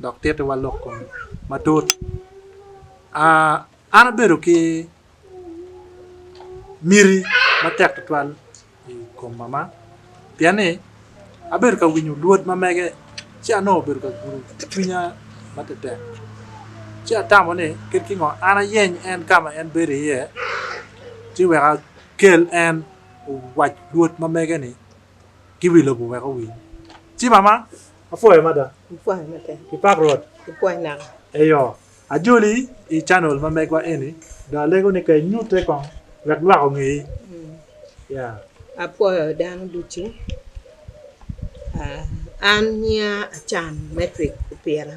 dok tittiwa lok kome matut. An abedo ki miti matek tutwal i kom mama pien ni abedo ka winyo lwod ma mege ci anongo obedo ka gudo cwinya matek ci atamo ni kit ki ngo an ayeny en ka ma en bedo iye ci wek akel en owac lwod ma mege-ni ki wi lobo wek owiny ci mama Apwoyo mada. Apwoyo mada. Ipak Rwot. Ipwoyo naka. Eyo, ajoli i channel ma megwa eni dong alego ni ka inyute kong wek lwak ongeyi. Yeah. Apwoyo dano ducu. An nyinga Achan Matrick Opira.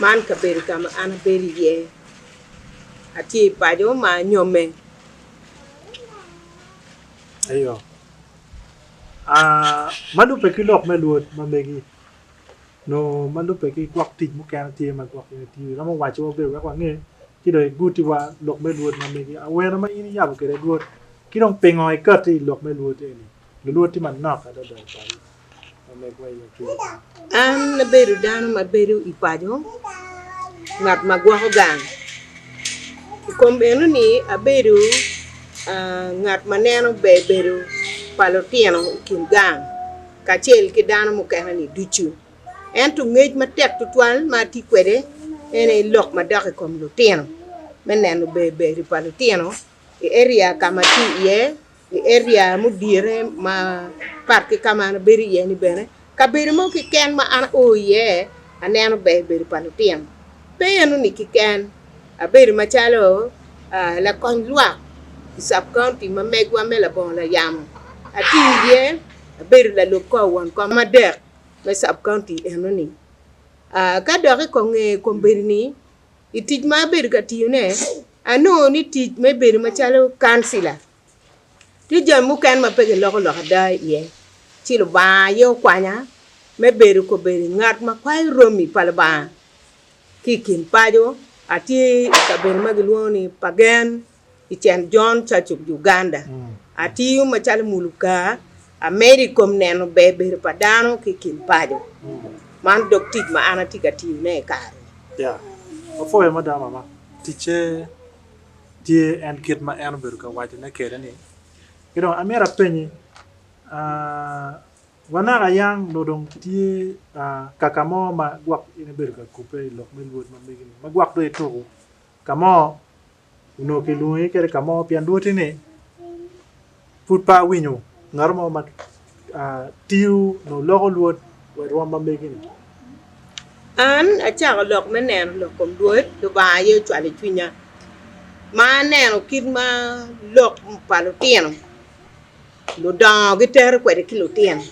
Man kabedo ka ma an abedo iye atye i paco ma anyomme eyo ma lubbe ki lok me luot ma megi nyo ma lubbe ki gwok tic mukene tye ma gwok meno tiyo iromo waco wa bene wek wange ci dong iguti wa lok me luot ma megi awene ma in iyabo kwede luot ki dong pingo ikati i lok me luot eni luluot tye manok adada i paco. An abedo dano ma bedo i paco, ngat ma gwoko gang. I kom eno ni abedo ngat ma neno ber bedo pa lutino i kin gang kacel ki dano mukene ni ducu. Ento ngec matek tutwal ma atye kwede en aye lok ma dok i kom lutino me neno ber bedo pa lutino i eria ka ma atye iye I area mudirre mapat ki ka ma an abedo iye ni bene, kabedo mo keken ma an ao iye aneno ber bedo pa lutino. Pe enoni keken, abedo macalo lakony lwak i sub county ma megwa me labongo layamo, atiyo iye abedo lalub kor won kom adek me sub county enoni. Ka dok i konge kombeddi ni i tic ma abedo ka tiyone, anongo ni tic me bedo macalo kancila tye jami mukene ma pe kiloko lok ada iye. Ci Lubanga aye okwanya me bedo kobedo ngat ma kwayo romi pa Lubanga ki i kin paco. Atye i kabedo ma gilwongo ni Pagen i Saint John Church of Uganda. Atiyo macalo muluka, amedo i kom neno ber bedo pa dano ki i kin paco. Man dok tic ma an atye ka tiyone i kare-ni. Apwoyo mada mama. Ticce tye en kit ma en obedo ka wacone kwede-ni. Ki dong amyero apenyi, wa naka yang nongo dong tye kaka mo ma gwok in ibedo ka kubbe i lok me Lwod ma megi-ni, ma gwok dong ituko ka mo? onongo kilwongi kede ka mo pien lwoti ni pud pe awinyo ngat mo ma tiyo nyo loko lwot wa i rwom ma megi ni. An acako lok me neno lok kom Lwot Lubanga aye ocwalo i cwinya ma aneno kit ma lok pa lutino Ludongo gitero kwede ki lutino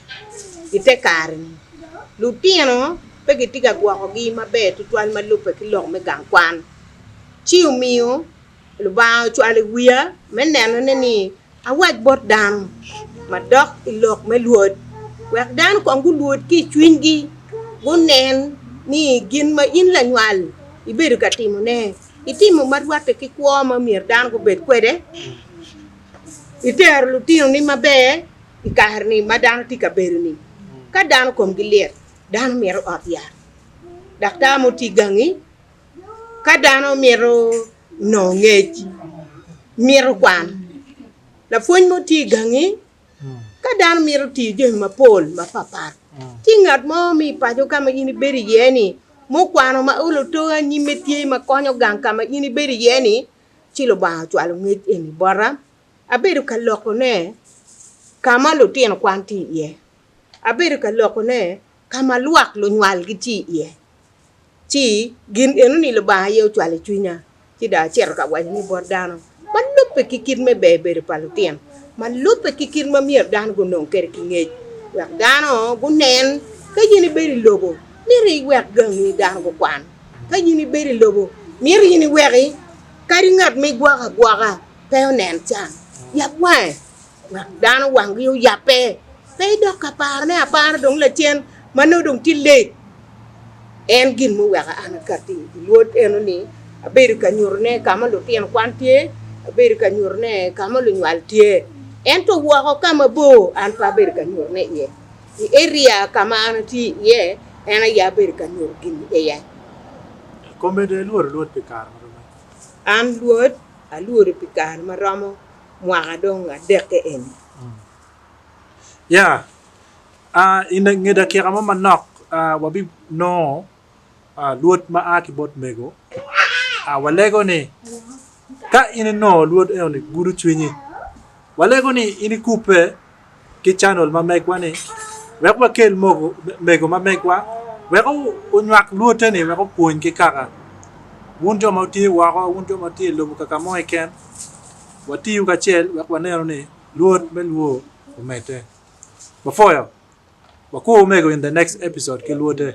i te kare-ni. Lutino pe gitye ka gwokogi maber tutwal ma lubbe ki lok me gang kwan. Ci omiyo Lubanga ocwalo i wiya me nenone ni awac bot dano madok i lok me lwod, wek dano kong gulwod ki i cwinygi, gunen ni gin ma in lanywal ibedo ka timone, itimo ma rwatte ki kwo ma myero dano gubed kwede. Itero lutinoni maber i kare-ni ma dano tye ka bedo-ni? Ka dano komgi lit, dano mito ot yat, daktar mo tye gangi. Ka dano mito nongo ngec, mito kwan, lapwony mo tye gangi. Ka dano mito tiyo jami mapol mapapat, tye ngat mo ma i paco ka ma in ibedo iye-ni, mukwano ma olo too anyim-me tye ma konyo gang ka ma in ibedo iye-ni? ci Lubanga ocwalo ngec eni bota, abedo ka lokone ka ma lutino kwan tye iye, abedo ka lokone ka ma lwak lunywal gitye iye. Ci gin enoni Lubanga aye ocwalo i cwinya, ci dong acito ka waco ni bot dano ma lubbe ki kit me ber bedo pa lutino, ma lubbe ki kit ma myero dano gunong kwede ki ngec, wek dano gunen ka in ibedo i lobo myero iwek gangi dano gukwan. Ka in ibedo i lobo, myero in iweki kadi ngat ma igwoko agwoka pe onen can. Yab wange, wek dano wanggi oyabbe, pe idok ka parone apara dong lacen ma nongo dong tye late. En gin muweko an akatti i Wod eno-ni, abedo ka nyutone ka ma lutino kwan tye, abedo ka nyutone ka ma lunywal tye, ento woko ka mabor an pe abedo ka nyutone iye. I eria ka ma an atye iye, en aye abedo ka nyuto gin i iye. I kome dong ilwodo lwod pi kare ma romo adi? An lwod alwodo pi kare ma romo mwaka dong adekke eni. Ya. I nge dakika mo manok wabinongo Lwod ma a ki bot mego, walego ni, Ka in inongo Lwod enoni, gudo cwinyi. Walego ni in ikubbe ki canal ma megwa-ni wek wakel mego ma megwa wek onywak Lwote-ni wek opwony ki kaka wun jo ma wutye woko, wun jo ma wutye i lobo kaka mo keken, watiyo kacel wek wanenu ni Lwod me lwo omedde. Bafoyo, wakur mego in the next episode ki Lwote.